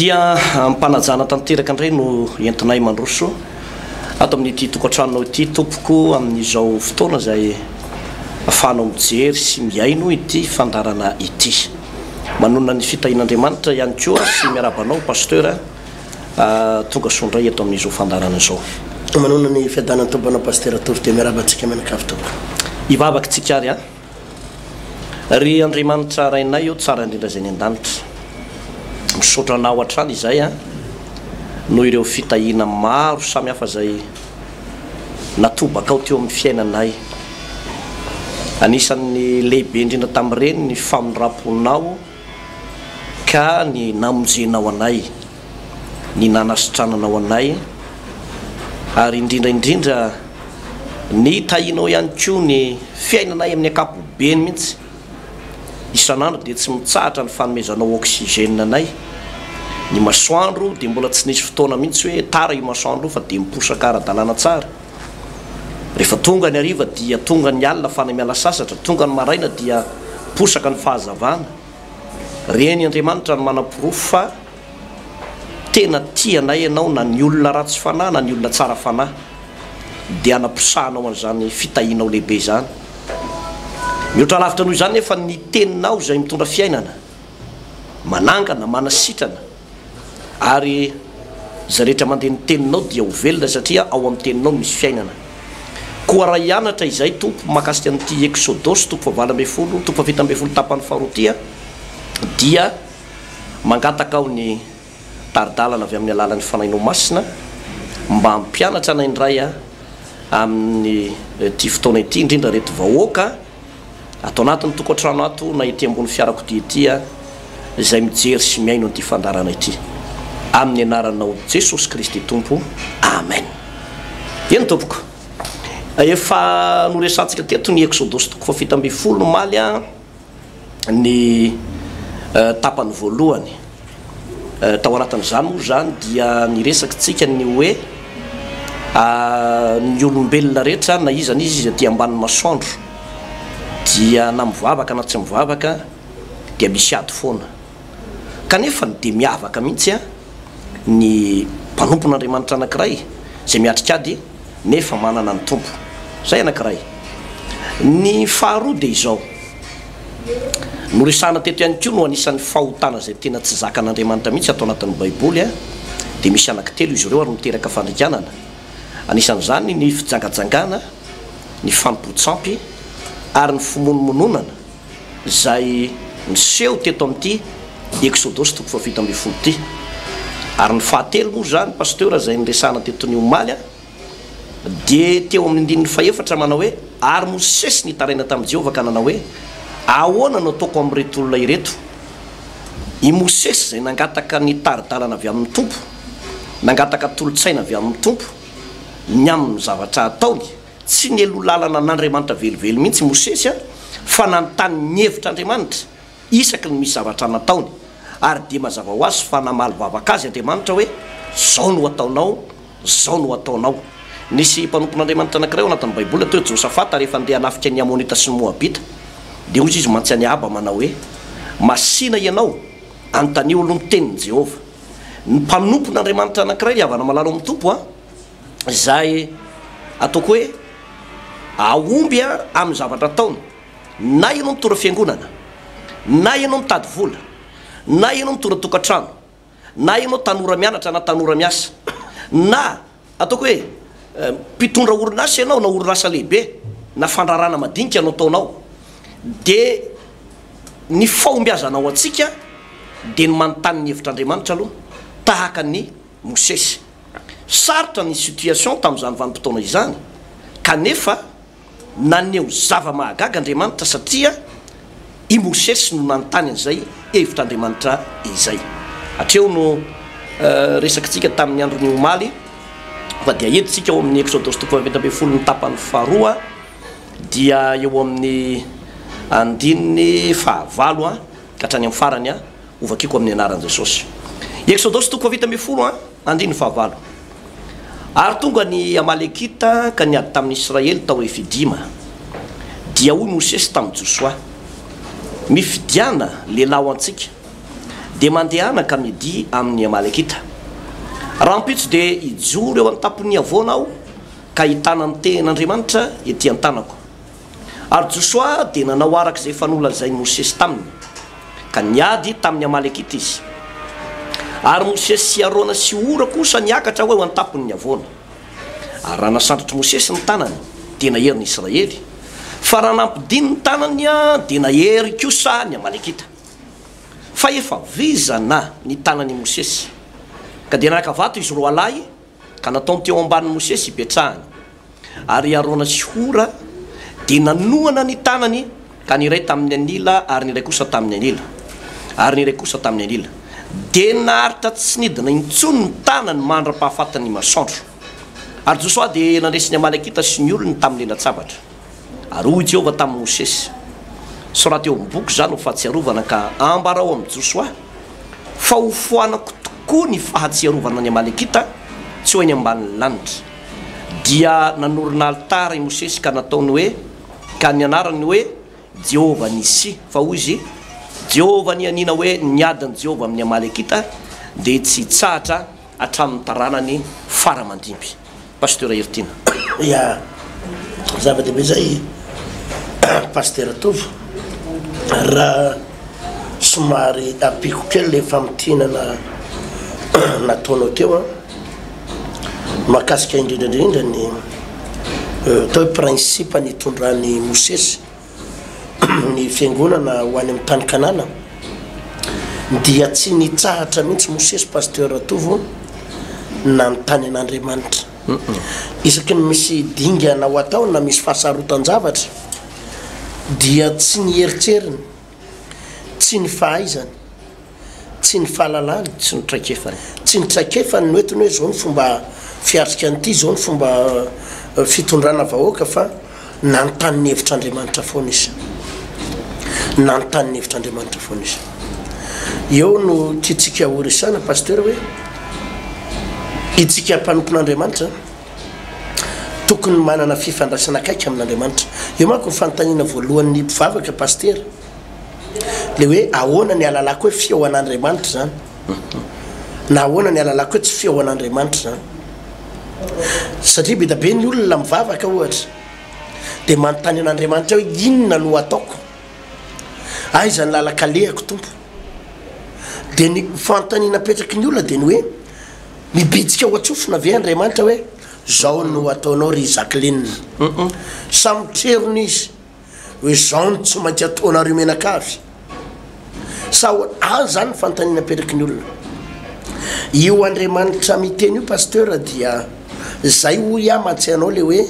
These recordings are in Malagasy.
Dia amim-panajana tanteraka indray no entinay mandroso ato amin'ity tokantranonao ity tompoko amin'izao fotoana izay afahanao mijery sy mihaino ity fandaharana ity. Manonona ny fitahian'Andriamanitra ihany koa sy miarahaba anao Pasteur tonga soa indray eto amin'izao fandaharana izao. Manonona ny fiadanan'ny Tompo anao Pasteur Tovo dia miarahaba antsika mianakavy tompoko. Hivavaka isika ary a. Ry Andriamanitra Rainay ô tsara indrindra izay any an-danitra, misaotra Anao hatrany izay an, noho ireo fitahiana maro samy hafa izay natobakao teo amin'ny fiainanay. Anisan'ny lehibe indrindra tamin'ireny ny famindram-ponao ka ny namonjenao anay. ny nanasitrananao anay, ary indrindra indrindra ny tahianao ihany koa ny fiainanay amin'ny ankapobeny mihitsy. Isan'andro dia tsy mitsahatra ny fanomezanao oxygène anay. Ny masoandro dia mbola tsy nisy fotoana mihitsy hoe tara io masoandro io fa dia miposaka ara-dalàna tsara. Rehefa tonga ny hariva dia tonga ny alina fany miala sasatra, tonga ny maraina dia posaka ny fahazavana. Reny Andriamanitra no manaporofo fa tena tia anay ianao na ny olona ratsy fanahy na ny olona tsara fanahy dia anaposahanao an'izany fitahianao lehibe izany. Mihoatra lavitra noho izany nefa ny teninao izay mitondra fiainana, manangana, manasitrana, Ary izay rehetra mandeha ny teninao dia ho velona satria ao amin'ny teninao misy fiainana. Koa raha hianatra izay tompo mahakasika an'ity Eksodosy toko fahavalo ambin'ny folo, toko fahafito ambin'ny folo tapany faharoa ity aho dia mangataka aho ny tari-dalana avy amin'ny alalan'ny Fanahinao Masina mba hampianatra anay indray amin'ny ity fotoana ity indrindra ireto vahoaka Ato anatin'ny tokantrano ato na ety ambony fiarakodia ety aho izay mijery sy mihaino an'ity fandaharana ity. Amin'ny anaranao Jesosy Kristy Tompo. Amen. Eny tompoko. Efa noresahantsika teto ny Eksodosy toko fahafito ambin'ny folo omaly ny tapany voalohany. Tao anatin'izany moa izany dia niresakitsika ny hoe ny olombelona rehetra na iza na iza izay aty ambanin'ny masoandro dia na mivavaka na tsy mivavaka dia misy ady foana. Kanefa dia miavaka mihitsy ny mpanompon'Andriamanitra anankiray izay miatrika ady nefa manana ny Tompo. Izay anankiray. Ny faharoa dia izao. Noresahana teto ihany koa no anisan'ny fahotana izay tena tsy zakan'Andriamanitra mihitsy ato anatin'ny baiboly dia misy anaky telo izy ireo ary miteraka fandringanana anisan'izany ny fijangajangana, ny fanompoan-tsampy ary ny fimonomononana izay niseho teto amin'ity Eksodosy toko fahafito ambin'ny folo ity. Ary ny fahatelo moa izany Pasteur izay niresahana teto ny omaly. Dia teo amin'ny andininy fahefatra manao hoe, Ary Mosesy nitaraina tamin'i Jehovah ka nanao hoe, Ahoana no ataoko amin'ireto olona ireto? I Mosesy izay nangataka ny tari-dalana avy amin'ny Tompo, nangataka tolo-tsaina avy amin'ny Tompo ny amin'ny zavatra hataony. Tsy nialoha lalana an'Andriamanitra velively mihitsy i Mosesy, fa nanontany ny hevitra Andriamanitra isaky ny misy zavatra nataony. Ary dia mazava ho azy fa namaly vavaka azy Andriamanitra hoe, Izao no hataonao. Izao no hataonao. Nisy mpanompon'Andriamanitra anankiray ao anatin'ny Baiboly atao hoe Josafata, rehefa handeha hanafika ny Amonita sy ny Moabita, dia hoy izy mantsy an'i Ahaba manao hoe, Masìna ianao, anontanio aloha ny tenin'i Jehovah. Ny mpanompon'Andriamanitra anankiray ry havana malala ao amin'ny Tompo a! izay ataoko hoe hahomby amin'ny zavatra ataony, na ianao mitondra fiangonana, na ianao mitady vola, na ianao mitondra tokantrano, na ianao tanora mianatra na tanora miasa, na ataoko hoe mpitondra orinasa ianao na orinasa lehibe na fandrarana madinika no ataonao dia ny fahombiazana ho antsika dia ny manontany ny hevitr'Andriamanitra aloha tahaka an'i Mosesy. Sarotra ny situation tamin'izany vanim-potoana izany kanefa Naneho zava-mahagaga Andriamanitra satria i Mosesy no nanontany an'izay hevitr'Andriamanitra izay. Hatreo no resakintsika tamin'ny andron'ny omaly fa dia entintsika ao amin'ny Eksodosy toko fahaefatra ambin'ny folo ny tapany faharoa dia eo amin'ny andininy fahavalo ka hatrany amin'ny farany. Ho vakiko amin'ny anaran'i Jesosy. Eksodosy toko fahavita ambin'ny folo andininy fahavalo Ary tonga ny Amalekita ka niady tamin'ny Israely tao Refidima. Dia hoy Mosesy tamin'i Josoa, Mifidiana lehilahy ho antsika, dia mandehana ka midia amin'ny Amalekita. Rahampitso dia hijoro eo an-tampon'ny havoana aho ka hitana ny tehin'Andriamanitra ety an-tanako. Ary Josoa dia nanao araka izay efa nolazain'i Mosesy taminy, ka niady tamin'ny Amalekita izy. Ary Mosesy sy Arona sy Hora kosa niakatra ho eo an-tampon'ny havoana. Ary raha nasandratr'i Mosesy ny tanany, dia nahery ny Israely, fa raha nampidiny ny tanany, dia nahery kosa ny Amalekita. Fa efa vizana ny tanan'i Mosesy, ka dia naka vato izy roalahy, Ka nataony teo ambanin'i Mosesy hipetrahany. Ary i Arona sy Hora dia nanohana ny tanany, ka ny iray tamin'ny anila, ary ny iray kosa tamin'ny anila, ary ny iray kosa tamin'ny anila. Dia naharitra tsy nidina intsony ny tanany mandra-pahafatin'ny masoandro. Ary Josoa dia nandresy ny Amalekita sy ny olony tamin'ny lalan-tsabatra. Ary hoy Jehovah tamin'i Mosesy, Soraty eo amin'ny boky izany ho fahatsiarovana ka ambarao amin'i Josoa fa hofoanako tokoa ny fahatsiarovana ny Amalekita tsy ho eny ambanin'ny lanitra. Dia nanorina alitara i Mosesy ka nataony hoe, ka ny anarany hoe, Jehovah Nisi, fa hoy izy, Jehovah nianiana hoe ny adin'i Jehovah amin'ny Amalekita dia tsy hitsahatra hatramin'ny taranany fara aman-dimby. Pasteur Heritiana. Ya, zava-dehibe zay Pasteur Tovo, raha somary ampiako kely le famintinana nataonao teo an, mahakasika indrindra indrindra ny atao hoe principe nitondran'i Mosesy, ny fiangonana ho any amin'ny tany Kanana dia tsy nitsahatra mihitsy Mosesy Pasteur Ratovo nanontany an'Andriamanitra. Isaky ny misy dingana ho atao na misy fahasarotan-javatra dia tsy ny heritreriny, tsy ny fahaizany, Tsy ny fahalalany, tsy ny traikefany. Tsy ny traikefany no entiny hoe izao ny fomba fiatrika an'ity, izao ny fomba fitondrana vahoaka fa nanontany ny hevitr'Andriamanitra foana izy. Nanontany ny hevitr'Andriamanitra foana izy. Eo no tiantsika horesahana Pasitera hoe itsika mpanompon'Andriamanitra tokony manana fifandraisana akaiky amin'Andriamanitra. Io manko ny fanontaniana voalohan'ny mpivavaka Pasitera. le hoe ahoana ny alalako hoe fihaonan'Andriamanitra zany na ahoana ny alalako hoe tsy fihaonan'Andriamanitra zany satria be da be ny olona mivavaka ohatra de manontany an'Andriamanitra hoe inona no ataoko aiza ny lalakalehako tompo de ny fanontaniana apetraky ny olona de ny hoe mibitsika ao an-tsofina ve Andriamanitra hoe zao no ataonao ry Jacqueline samy trerony izy hoe izao no tsy maintsy ataonareo mianakavy sa ho any zany ny fanontaniana apetraky ny olona io andriamanitra miteny io pasteur dia zay hoy aho mahatsiahy anao le hoe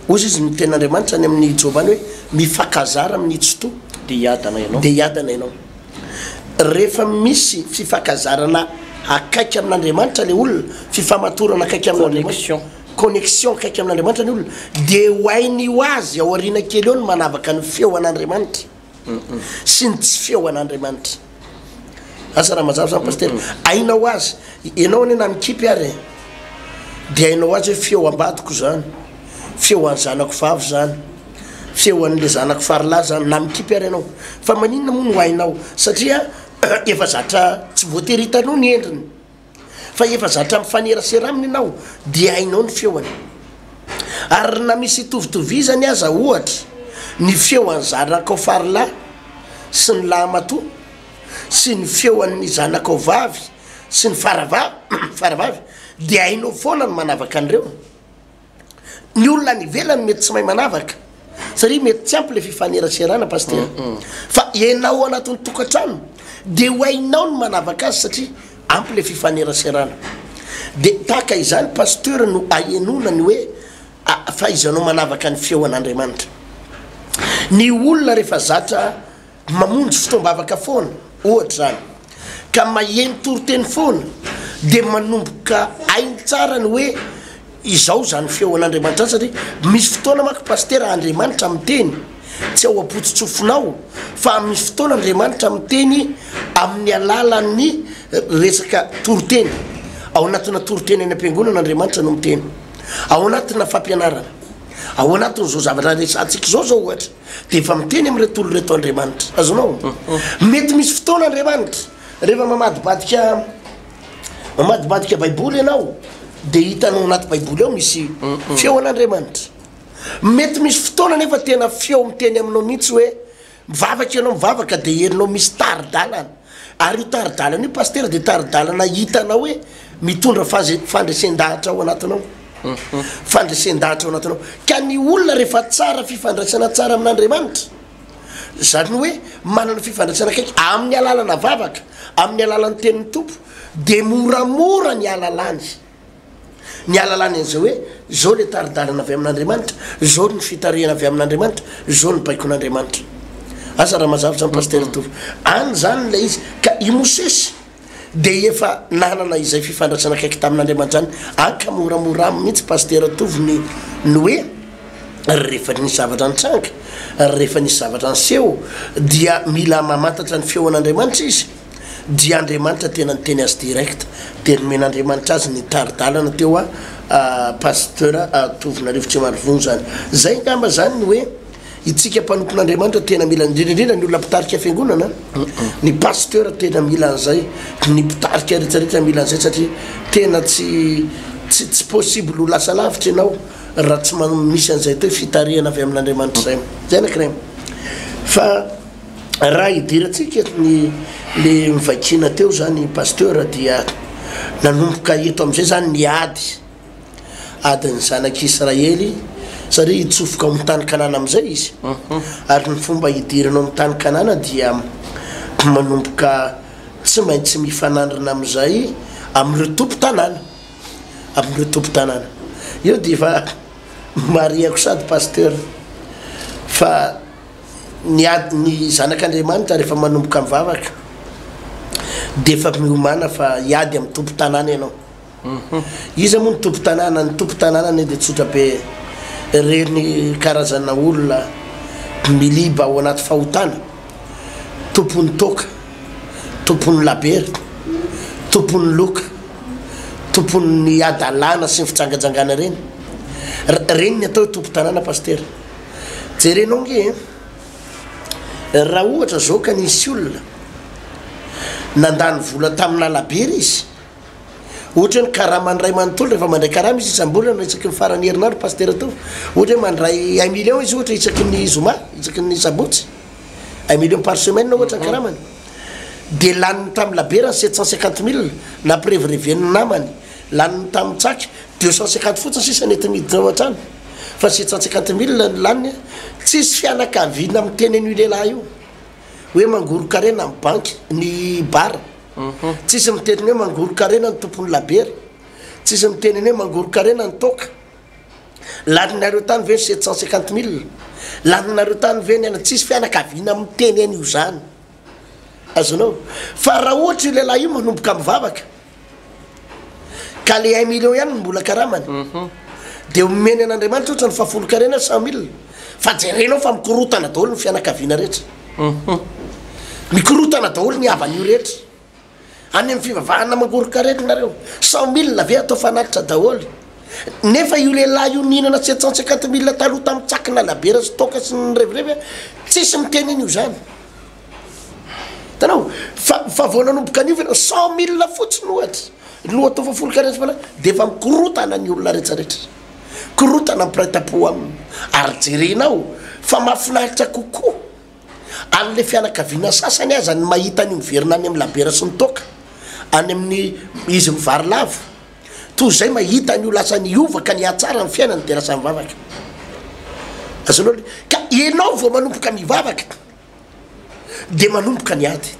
ozy izy ny tenin'andriamanitra any amin'ny joba any hoe mifakazara amin'ny tsitoa de hiadana ianao de hiadana ianao rehefa misy fifakazarana akaiky amin'andriamanitra le olona fifamatorana akaiky amin'andriamanitra connexion akaiky amin'Andriamanitra ny olona dia ho hainy ho azy ao aoriana kely eo ny manavaka ny feo an'Andriamanitra sy ny tsy feo an'Andriamanitra. Asa raha mazava izany Pasitera. Haina ho azy. Ianao anie na mikipy ary e, dia hainao ho azy hoe feo ambadiko izany, feo an'ny zanako vavy izany, feo an'ilay zanako farilahy izany, na mikipy ary ianao. Fa maninona moa no hainao? Satria efa zatra tsy voatery hitanao ny endriny. fa efa zatra mifanerasera aminy ianao dia hainao ny feony. Ary na misy hitovitovizany aza ohatra ny feo an'i zanakao farilahy sy ny lahimatoa sy ny feo an'ny zanakao vavy sy ny faravavy dia hainao foana ny manavaka an'ireo. Ny olona any ivelany mety tsy mahay manavaka satria mety tsy ampy le fifaneraserana pasteur. Fa ianao anatin'ny tokantrano dia ho hainao ny manavaka azy satria ampy le fifaneraserana. Dia tahaka izany pasteur no ahenoana ny hoe fahaizanao manavaka ny feon'Andriamanitra. Ny olona rehefa zatra mamonjy fotoam-bavaka foana ohatra izany ka maheno toriteny foana dia manomboka hainy tsara ny hoe izao izany feon'Andriamanitra izany satria misy fotoana manko Pasitera Andriamanitra miteny tsy ao am-pototsofinao fa misy fotoana Andriamanitra miteny amin'ny alalan'ny resaka toriteny ao anatina toriteny any am-piangonana Andriamanitra no miteny ao anatina fampianarana ao anatin'izao zavatra resahantsika izao izao ohatra dia efa miteny amin'ireto olona ireto Andriamanitra. Azonao? Mety misy fotoana Andriamanitra, rehefa mamadibadika mamadibadika Baiboly ianao, dia hitanao anaty Baiboly ao misy feo an'Andriamanitra. Mety misy fotoana anefa tena feo miteny aminao mihitsy hoe mivavaka ianao mivavaka dia herinao misy tari-dalana. Ary io tari-dalana io Pasitera dia tari-dalana hitanao hoe mitondra fandresen-dahatra ao anatinao. Fandresen-dahatra ao anatinao. Ka ny olona rehefa tsara fifandraisana tsara amin'Andriamanitra, izany hoe manana fifandraisana akaiky amin'ny alalana vavaka, amin'ny alalan'ny tenin'ny Tompo, dia moramora ny hahalalany. Ny alalany an'izay hoe, izao ilay tari-dalana avy amin'Andriamanitra, izao ny fitarihana avy amin'Andriamanitra, izao ny baikon'Andriamanitra. Asa raha mazava izany Pasitera Tovo. Any izany ilay izy. Ka i Mosesy dia efa nanana izay fifandraisana akaiky tamin'Andriamanitra izany. Any ka moramora aminy mihitsy Pasitera Tovo ny ny hoe, rehefa nisy zavatra nitranga, rehefa nisy zavatra niseho dia mila mamantatra ny feon'Andriamanitra izy. dia Andriamanitra tena niteny azy direct dia nomen'Andriamanitra azy ny tari-dalana teo a Pasteur Tovonarivo tsy marivony zany zay ngamba zany ny hoe itsika mpanompon'Andriamanitra tena mila indrindra indrindra ny olona mpitarika fiangonana ny Pasteur tena mila an'izay ny mpitarika rehetra rehetra mila an'izay satria tena tsy tsy tsy possible ho lasa lavitra ianao raha tsy manao misy an'izay atao hoe fitarihana avy amin'Andriamanitra izay zay anakirayy fa Raha hidirantsika ny le mivaikina teo zany Pasteur dia nanomboka eto amizay zany ny ady, adin'ny zanak'i Israely satria hitsofoka ao amin'ny tany Kanana amizay izy, ary ny fomba hidirana ao amin'ny tany Kanana dia manomboka tsy maintsy mifanandrina amizay amin'ireo tompon-tanàna, amin'ireo tompon-tanàna. Eo dia efa marihako sady Pasteur fa. Ny ady ny zanak'Andriamanitra rehefa manomboka mivavaka dia efa miomana fa hiady amin'ny tompon-tanàna ianao. Iza moa ny tompon-tanàna? Ny tompon-tanàna anie dia tsotra be, ireny karazana olona miliba ao anaty fahotana, tompon'ny toaka, tompon'ny labery, tompon'ny loka, tompon'ny hadalana sy ny fijangajangana ireny. Ireny ny atao hoe tompon-tanàna Pasitera. Jerenao nge eh, raha ohatra zao ka nisy olona nandany vola tamina labera izy, ohatra hoe ny karamany ray manontolo rehefa mandray karama izy isam-bolana isaky ny faran'ny herinandro pasitera tao, ohatra hoe mandray un million izy ohatra isaky ny zoma, isaky ny sabotsy, un million par semaine ohatra ny karamany, dia laniny tamin'ny labera ny sept cent cinquante mille nampirevireven'ny namany, laniny tamin'ny tsaky deux cent cinquante fotsiny sisa nety niditra ao an-trano. fa sept cent cinquante mille no laniny a, tsisy fianakaviana miteny an'io lehilahy io hoe mangoron-karena amin'ny banky ny bar, tsisy miteny ny hoe mangoron-karena ny tompon'ny labiera, tsisy miteny ny hoe mangoron-karena ny toaka, laninareo tany ve ny sept cent cinquante mille, laninareo tany ve ny anona, tsisy fianakaviana miteny an'io izany, azonao? fa raha ohatra io lehilahy io manomboka mivavaka. Ka le un million ihany no mbola karamany de omeny an'Andriamanitra ohatra ny fahafolonkarena cent mille fa jerenao fa mikorotana daholo ny fianakaviana rehetra mikorotana daholo ny havan'io rehetra any amin'ny fivavahana mangoron-karena nareo cent mille ve atao fanatitra daholo nefa io lehilahy io nihinana sept cent cinquante mille taloha tamin'ny tsaky nalabiera sy toaka sy ny revirevy tsisy miteny an'io zany Hitanao? Fa, fa vao nanomboka niova ianao, cent mille fotsiny ohatra, no atao fa folo-karetsaka fa lasa, dia efa mikorotana ny olona rehetra rehetra. Korotana ny mpiray tam-po aminy. Ary jerenao, fa mahafinaritra kokoa an'ilay fianakaviana sasany aza ny mahita an'io miverina any amin'ny labiera sy ny toaka, any amin'ny izy mivary lavo, toy izay mahita an'io lasa niova ka nihatsara ny fiainany dia lasa mivavaka. Azonao le. Ka ianao vao manomboka mivavaka. dia manomboka ny ady,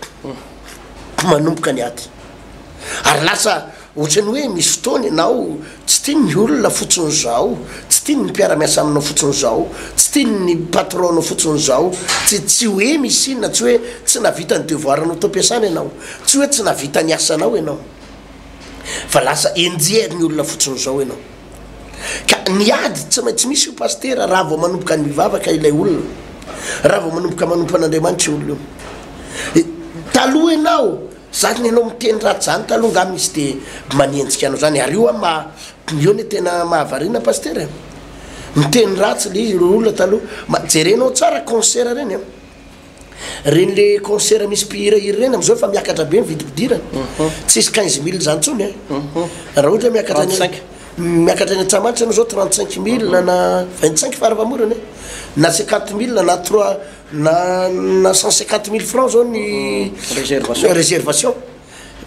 manomboka ny ady, ary lasa ohatran'ny hoe misy fotoana ianao tsy tiany ny olona fotsiny izao, tsy tiany ny mpiara-miasa aminao fotsiny izao, tsy tiany ny patron-nao fotsiny izao, tsy tsy hoe misy inona, tsy hoe tsy nahavita ny devoir-nao tao am-piasana ianao, tsy hoe tsy nahavita ny asanao ianao, fa lasa enjehin'ny olona fotsiny izao ianao. Ka ny ady tsy maintsy misy io Pasitera raha vao manomboka mivavaka ilay olona, raha vao manomboka manompo an'Andriamanitra io olona io. Taloha ianao, zany ianao miteny ratsy zany taloha angaha misy de manenjika anao zany, ary io an maha, io le tena mahavariana Pasitera e! Miteny ratsy le olona taloha, ma jerenao tsara concert reny an! Reny le concert misy mpihira hira reny amizao efa miakatra be ny vidim-pidirana. Tsisy quinze mille zany tsony eh. Raha ohatra hoe miakatra any miakatra any Antsahamanitra enao zao trente cinq mille na vingt cinq fara famorana eh. Na cinquante mille na trois na na cent cinquante mille francs zao ny réservation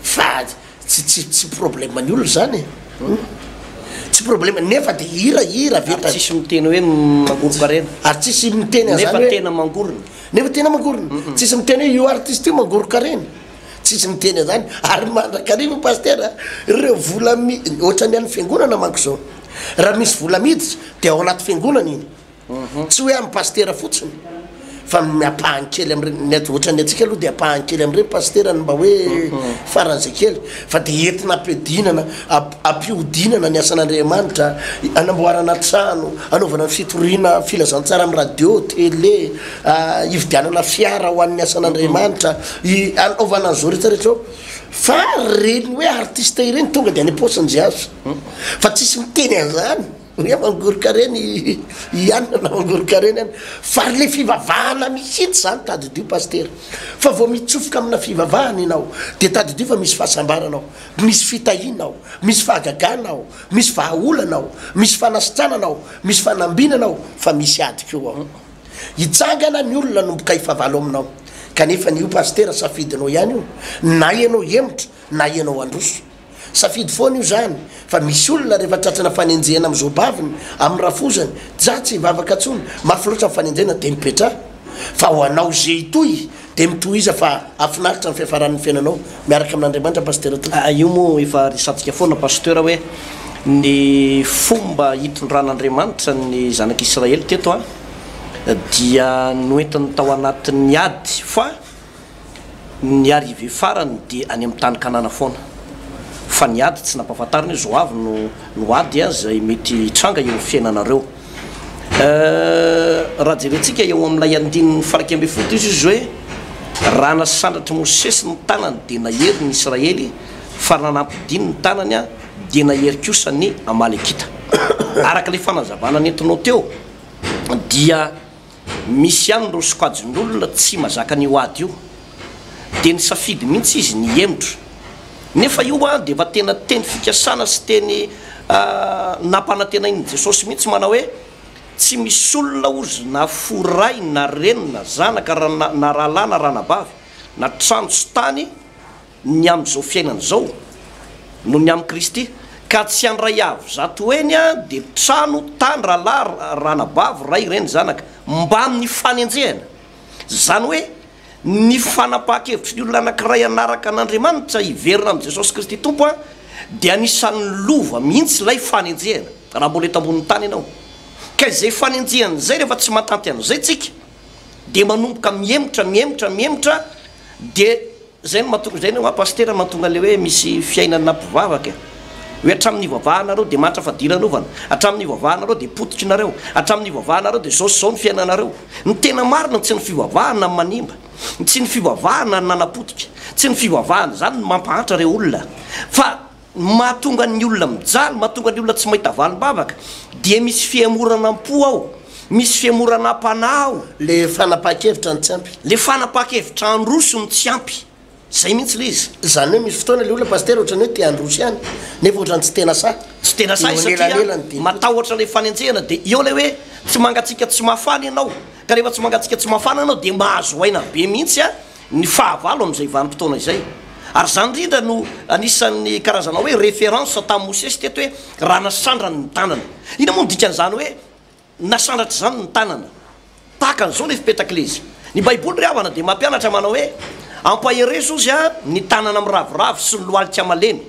fa. Tsy tsy tsy problème ny olona izany e! Humm! Tsy problème nefa dia hira hira avy eto. Ary tsisy miteny hoe mangorokarena. Ary tsisy miteny an'izany hoe. Nefa tena mangorona. Nefa tena mangorona. Tsisy miteny hoe io artiste io mangorokarena. Tsisy miteny an'izany. Ary mandrakariva Pasteur a! Ireo vola mi, ohatran'ny an'ny fiangonana manko izao. Raha misy vola miditra dia ao anaty fiangonana iny. Tsy hoe amin'ny pasitera fotsiny fa ny ampahany kely amin'ireny, ny aty ohatran'ny antsika aloha dia ampahany kely amin'ireny pasitera ny mba hoe faran'izay kely fa dia entina ampihodinana, ampihodinana ny asan'Andriamanitra, hanamboarana trano, hanaovana ny fitoriana filazantsara amin'ny radio, tele, hividianana fiara ho an'ny asan'Andriamanitra, hanaovana an'izao rehetra rehetra izao fa ireny hoe artiste ireny tonga dia any am-paosin'i Jiazy fa tsisy miteny an'izany. Ny aman-goron-karena hianina na aman-goron-karena hianina. Fa le fivavahana mihitsy zany tadidio Pasitera. Fa vao mitsofoka amina fivavahana ianao dia tadidio fa misy fahasambarana ao, misy fitahiana ao, misy fahagagana ao, misy vahaolana ao, misy fanasitranana ao, misy fanambinana ao fa misy ady koa ao. Hitsangana ny olona hanomboka hifavalo aminao. Kanefa ny io Pasitera safidinao ihany io, na ianao hemotra na ianao handroso. Safidy foana io zany fa misy olona rehefa tratrana fanenjehana am zo baviny am rafozany dza tsy hivavaka tsony mafy loatra ny fanenjehana de mipetra fa ho anao ze hitohy de mitohiza fa afinaritra ny fiafaran ny fiainanao miaraka amin Andriamanitra Pasitera tompoko. Aa io moa efa resantsika foana Pasteur hoe ny fomba hitondran'Andriamanitra ny zanak'Israely teto a dia noentiny tao anatin'ny ady fa Ny arrivée farany dia any amin'ny tany Kanana foana. Fa ny ady tsy nampahafantarina hoe zao avy no no ady a izay mety hitranga eo amin'ny fiainanareo. Euh raha jerentsika eo amin'ilay andininy faraika ambin'ny folo dia hoy Jesosy hoe raha nasandratr'i Mosesy ny tanany dia nahery ny Israely fa raha nampidiny ny tanany a dia nahery kosa ny Amalekita. Araka ilay fanazavana nentinao teo dia. Misy ihany ireo sokajin'olona tsy mazaka an'io ady io, dia nisafidy mihitsy izy ny hihemotra. Nefa io dia efa tena teny fikasana sy teny nampanantenain'i Jesosy mihitsy manao hoe, Tsy misy olona ozy na fo ray na reny na zanaka na rahalahy na ranabavy na trano sy tany ny amin'izao fiainana izao noho ny amin'i Kristy, ka tsy handray avo zato heny dia trano, tany, rahalahy, ranabavy, ray, reny, zanaka, mbamin'ny fanenjehana. Izany hoe ny fanapahan-kevitry ny olona anankiray hanaraka an'Andriamanitra, hiverina amin'i Jesosy Kristy Tompo, dia anisan'ny lova mihitsy ilay fanenjehana, raha mbola eto ambonin'ny tany ianao. Ka izay fanenjehana izay, rehefa tsy mahatanty an'izay tsika, dia manomboka mihemotra, mihemotra, mihemotra, dia. Zay no mahatonga, zay no hoa Pasitera mahatonga le hoe misy fiainana mpivavaka e! Hoe hatramin'ny ivavahanareo dia mahantra fadiranovana, hatramin'ny ivavahanareo dia pototry nareo, hatramin'ny ivavahanareo dia zao sy zao ny fiainanareo. Ny tena marina tsy ny fivavahana no manimba, tsy ny fivavahana no nanapotika, tsy ny fivavahana izany no mampahantra reo olona fa. Ny mahatonga ny olona mijaly, mahatonga ny olona tsy mahita valim-bavaka dia misy fihemoranam-po ao, misy fihemoranam-panahy ao. Le fanapahan-kevitra no tsy ampy. Le fanapahan-kevitra handroso no tsy ampy. Zay mihitsy le izy. Zany hoe misy fotoana le olona Pasitera ohatrany hoe te handroso ihany nefa ohatrany tsy tena sahy. Tsy tena sahy satria matahotra le fanenjehana de eo le hoe tsy mangatsiaka tsy mafana ianao, ka rehefa tsy mangatsiaka tsy mafana ianao de mahazo aina be mihitsy a. ny fahavalo amin'izay vanim-potoana izay. Ary izany indrindra no anisan'ny karazana hoe référence tamin'i Mosesy teto hoe raha nasandrany ny tanana. Inona moa no dikan'izany hoe nasandratra izany ny tanana? Tahaka an'izao ilay fipetak'ilaizy. Ny Baiboly ry havana dia mampianatra manao hoe ampaherezo ozy ny tanana miraviravy sy ny lohalika malemy.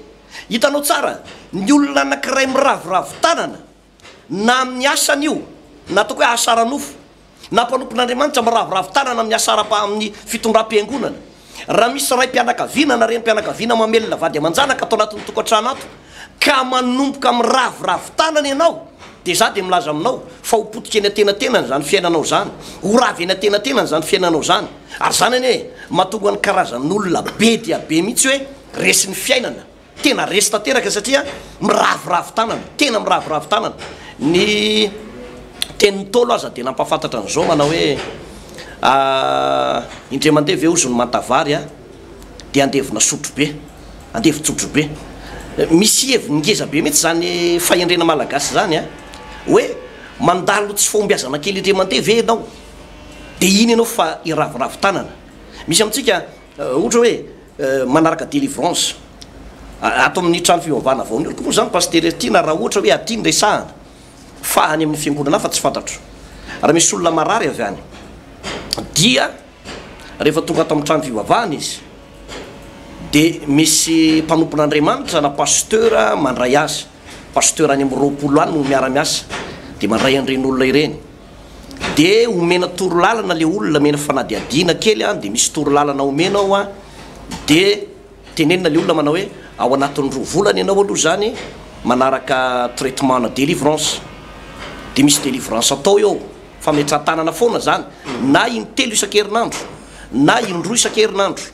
Hitanao tsara, ny olona anankiray miraviravy tanana, na amin'ny asany io, na ataoko hoe asa ara-nofo, na mpanompon'Andriamanitra miraviravy tanana amin'ny asa ara-, amin'ny fitondram-piangonana. Raha misy raim-pianakaviana na renim-pianakaviana mamelona vady aman-janaka ato anatin'ny tokantrano ato, ka manomboka miraviravy tanana ianao, dia izaho dia milaza aminao fa ho potika eny an-tenantenany izany fiainanao izany, ho ravy eny an-tenantenany izany fiainanao izany. Ary izany anie mahatonga ny karazan'olona be dia be mihitsy hoe resin'ny fiainana. Tena resy tanteraka satria miraviravy tanana, tena miraviravy tanana. Ny tenin'ny Ntaolo aza dia nampahafantatra an'izao manao hoe indray mandeha ve hozy ny manta-vary a, dia andevona sotrobe, andevon-tsotrobe. Misy heviny ngeza be mihitsy izany fahendrena malagasy izany a, hoe mandalo tsy fahombiazana kely indray mandeha ve ianao, dia iny ianao fa hiraviravy tanana. Misy amintsika ohatra hoe. manaraka delivrance ato amin'ny trano fivavahana vao nioriko moa zany pasitera ity na raha ohatra hoe aty ny resahana fa any amin'ny fiangonana hafa tsy fantatro raha misy olona marary avy any dia rehefa tonga ato amin'ny trano fivavahana izy dia misy mpanompon'andriamanitra na pasitera mandray azy pasitera any amin'ny roapolo any no miara-miasa dia mandray an'ireny olona ireny dia omena torolalana le olona omena fanadihadiana kely an dia misy torolalana omena ao an dia tenenina le olona manao hoe ao anatin'ny roa volana ianao aloha izany manaraka traitement na delivrance dia misy delivrance atao eo fametran-tanana foana izany na intelo isan-kerinandro na indroa isan-kerinandro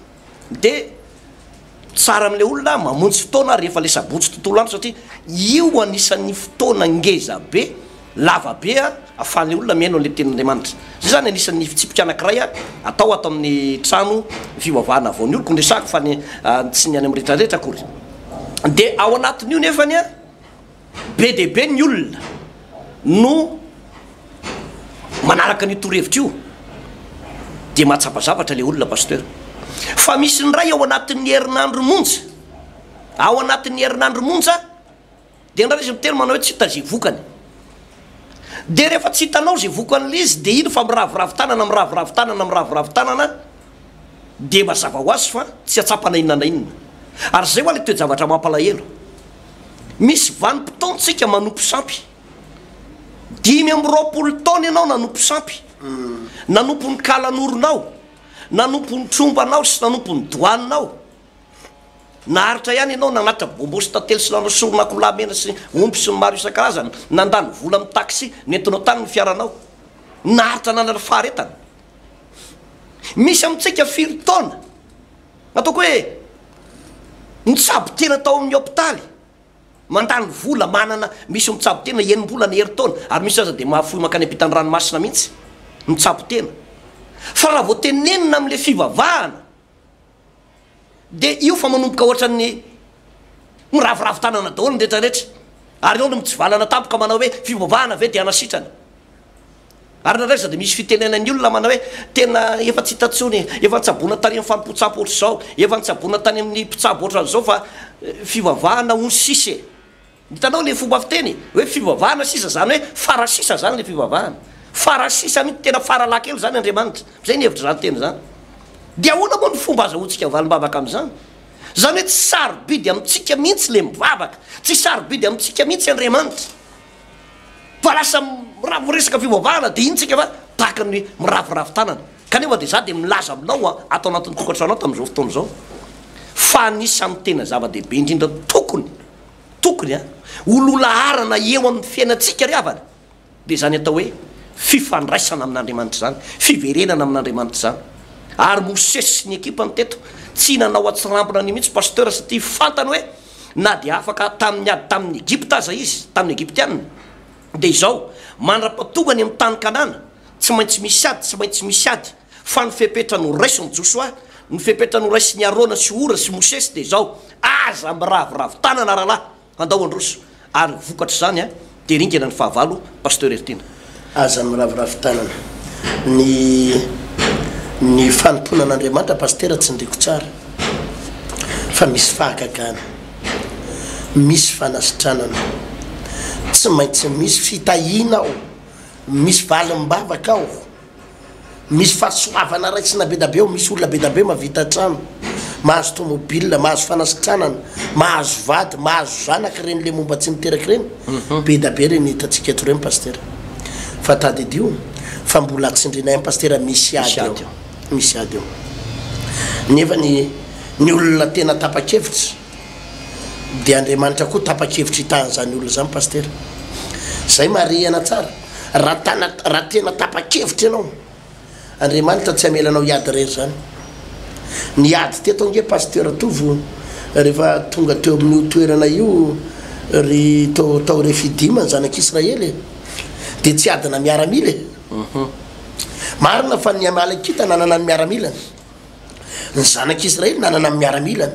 de tsara amle olona mamonjy fotoana rehefa le sabotsy tontolo andro satria io anisan'ny fotoana ngeza be lava be a afahan'le olona mihaino an'le tenin'Andriamanitra zay zany anisan'ny fitsipika anankiray a atao ato amin'ny trano fivavahana vao ny oloko no resahako fa ny tsy ny any amin'ny retraretra akory de ao anatin'io nefany a Be dia be ny olona no manaraka an'io torohevitra io dia mahatsapa zavatra ilay olona Pasteur. Fa misy indray ao anatin'ny herinandro monja, ao anatin'ny herinandro monja dia indraindray izy miteny manao hoe tsy hita izay vokany. Dia rehefa tsy hitanao izay vokan'ilay izy dia iny fa miraviravy tanana, miraviravy tanana, miraviravy tanana, dia mazava ho azy fa tsy hahatsapa na inona na inona. Ary izay ho'a lay toe-javatra mampalahelo. Misy vanim-potoantsika manompo sampy. Dimy amby roapolo taona ianao nanompo sampy. Nanompo ny kalanoronao, nanompo ny trombanao sy nanompo ny doaninao. Naharitra ihany ianao nanatitra bonbons sy tantely sy nanao soron'akoho lahy mena sy omby sy ny maro isan-karazany, nandany vola amin'ny taxi nentinao tany ny fiaranao. Naharitra nanana faharetana. Misy amintsika firy taona nataoko hoe nitsabo tena tao amin'ny hopitaly, mandany vola, manana, misy mitsabo tena enim-bolana, herintaona, ary misy aza dia mahafoy mankany am-pitan'ny ranomasina mihitsy, mitsabo tena. Fa raha vao tenenina amin'ilay fivavahana, dia io fa manomboka ohatran'ny miraviravy tanana daholo ny rehetra rehetra ary eo no mitsivalana tampoka manao hoe fivavahana ve dia anasitrana ary nareo izao dia misy fitenena ny olona manao hoe tena efa tsy hita tsony efa nitsabona tany amin'ny fanompoan-tsampy ohatr'izao efa nitsabona tany amin'ny mpitsabo ohatran'izao fa fivavahana ony sisa e Hitanao le fomba fiteny hoe fivavahana sisa zany hoe fara sisa zany le fivavahana fara sisa mintsy tena fara laha kely zany Andriamanitra zay ny hevitry zany teny zany de ahoana moa ny fomba azahoantsika valim-bavaka amizany zany hoe tsy sarobidy amintsika mintsy le mivavaka tsy sarobidy amintsika mintsy Andriamanitra fa lasa raha miresaka fivavahana de iny tsika fa tahaka ny miraviravy tanana kanefa de za de milaza aminao a ato anatin'ny tokantranonao tamin'izao fotoana izao fa anisan'ny tena zava-dehibe indrindra tokony Tokony a, ho lolaharana eo amin'ny fiainantsika ry havana, dia izany atao hoe fifandraisana amin'Andriamanitra izany, fiverenana amin'Andriamanitra izany. Ary Mosesy sy ny ekipany teto, tsy nanao an-tsirambina an'io mihitsy Pasteur satria fantany hoe na dia afaka tamin'ny ady tamin'ny Egypta aza izy, tamin'ny Egyptiana, dia izao, mandra-pahatonga any amin'ny tany Kanana, tsy maintsy misy ady, tsy maintsy misy ady. Fa ny fepetra noraisin'i Josoa, ny fepetra noraisin'i Arona sy Hora sy Mosesy dia izao, Aza miraviravy tanana rahalahy, handao handroso. Ary ho vokatr'izany dia ringana ny fahavalo, Pasteur Heritiana. Aza miraviravy tanana. Ny ny fanompoana an'Andriamanitra Pasitera tsindriako tsara fa misy fahagagana, misy fanasitranana, tsy maintsy misy fitahiana ao, misy valim-bavaka ao, misy fahasoavana raisina be da be ao, misy olona be da be mahavita trano, mahazo tomobil, mahazo fanasitranana, mahazo vady, mahazo zanaka ireny le momba tsy niteraka ireny, be da be ireny hitantsika eto ireny Pasitera. Fa tadidio fa mbola tsindrinay any Pasitera misy ady ao, misy ady ao. Nefa ny ny olona tena tapa-kevitra dia Andriamanitra koa tapa-kevitra hitaha an'izany olona izany Pasitera. Zay marihana tsara. Raha tana, raha tena tapa-kevitra ianao, Andriamanitra tsy hamela anao hiady irery izany. Niady teto ange Pasteur Tovo rehefa tonga teo amin'io toerana io ry tao, tao Refidim ny zanak'Israely e. Dia tsy adina miaramila e. Marina fa ny Amalekita nanana ny miaramilany. Ny zanak'Israely nanana ny miaramilany.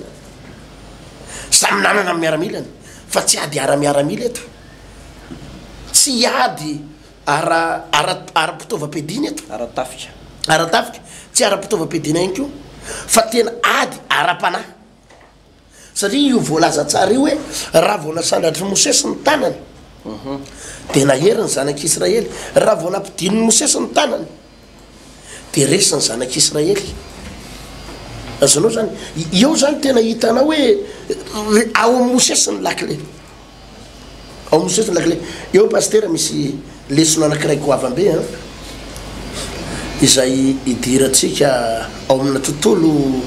Samy nanana ny miaramilany. Fa tsy ady ara-miaramila eto. Tsy hiady ara, ara, ara-pitaovam-piadiana eto. Ara-tafika. Ara-tafika, tsy ara-pitaovam-piadiana ihany koa, fa tena ady ara-panahy. Satria io voalaza tsara io hoe, Raha vao nasandratr'i Mosesy ny tanany, dia nahery ny zanak'Israely. Raha vao nampidinin'i Mosesy ny tanany. dia resy ny zanak'i Israely. Azonao zany, eo zany tena hitanao hoe eh, ao amin'ny Mosesy ny lakile. Ao amin'ny Mosesy ny lakile. Eo pasitera misy lesona anankiray goavambe an. Eh. Izay idirantsika ao amina tontolo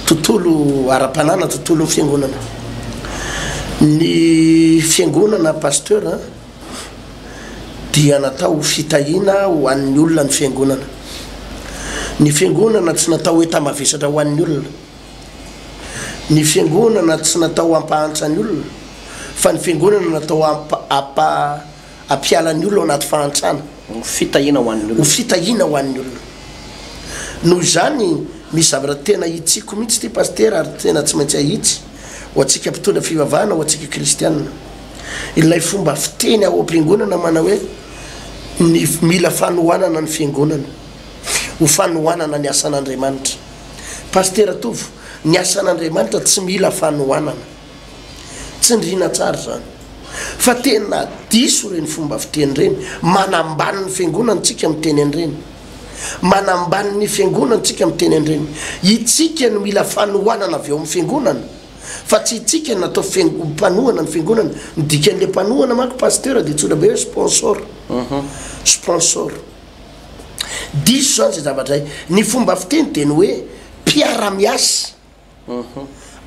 tontolo ara-panana, tontolo fiangonana. Ny fiangonana pasteur an. Eh. dia natao ho fitahiana ho an'ny olona ny Fiangonana. Ny Fiangonana tsy natao hoe tambavesatra ho an'ny olona. Ny Fiangonana tsy natao hampahantra ny olona, fa ny Fiangonana natao hampa, hampiala ny olona ao anaty fahantrana. Ho fitahiana ho an'ny olona. Ho fitahiana ho an'ny olona. Noho izany, misy zavatra tena hitsiko mihitsy ity Pasitera ary tena tsy maintsy ahitsy, ho antsika mpitondra fivavahana, ho antsika Kristiana. Ilay fomba fiteny ao am-piangonana manao hoe ny mila fanohanana ny fiangonana ho fanohanana ny asan'Andriamanitra. Pasitera Tovo, ny asan'Andriamanitra tsy mila fanohanana. Tsindriana tsara izany. Fa tena diso ireny fomba fiteny ireny. Manambany ny fiangonana tsika miteny an'ireny. Manambany ny fiangonana tsika miteny an'ireny. Itsika no mila fanohanana avy ao amin'ny fiangonana. fa tsy itsika no atao mpanohana ny fiangonana, ny dikan'ilay mpanohana manko pasteur dia antsoina be hoe sponsor, sponsor. Diso izany izay zavatra izay. Ny fomba fiteny dia ny hoe mpiara-miasa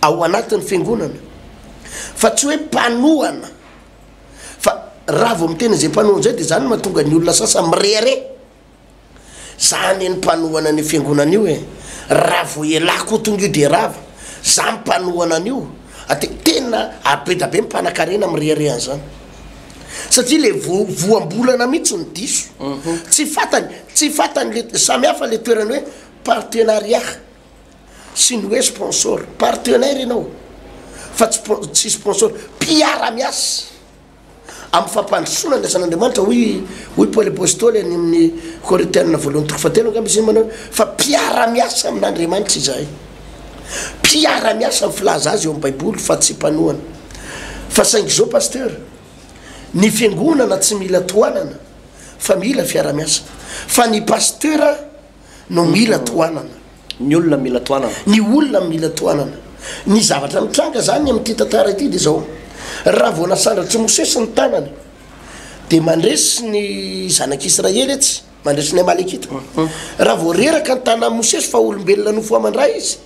ao anatin'ny fiangonana, fa tsy hoe mpanohana, fa raha vao miteny an'izay mpanohana izay dia izany no mahatonga ny olona sasany mirehareha. Za anie ny mpanohana an'io fiangonana io e! Raha vao ialahy koa tonga io dia rava! Za mpanohana an'io! Ate, tena abeda be ny mpanakarena mirehareha an'izany! Satria le vo, voambolana mihitsy no diso! Tsy fantany, tsy fantany le, samy hafa le toerany hoe partenariat sy ny hoe sponsor! Partenaire ianao fa tsy, tsy sponsor! Mpiara-miasa! Amin'ny fampandrosoana ny asan'Andriamanitra, hoy hoy Paoly Apostoly any amin'ny Korintiana voalohany toko fahatelo angamba izy iny manao fa mpiara-miasa amin'Andriamanitra izahay. Mpiara-miasa ny filaza azy eo amin'ny Baiboly fa tsy mpanohana. Fa saingy izao Pasteur, ny fiangonana tsy mila tohanana fa mila fiara-miasa. Fa ny Pasteur no mila tohanana. Ny olona mila tohanana. Ny olona mila tohanana. Ny zavatra nitranga zany amin'ity tantara ity dia zao, raha vao nasandratr'i Mosesy ny tanany dia mandresy ny zanak'Israely etsy, mandresy ny Amalekita. Raha vao reraka ny tanan'i Mosesy fa olombelona nofoaman-dra izy,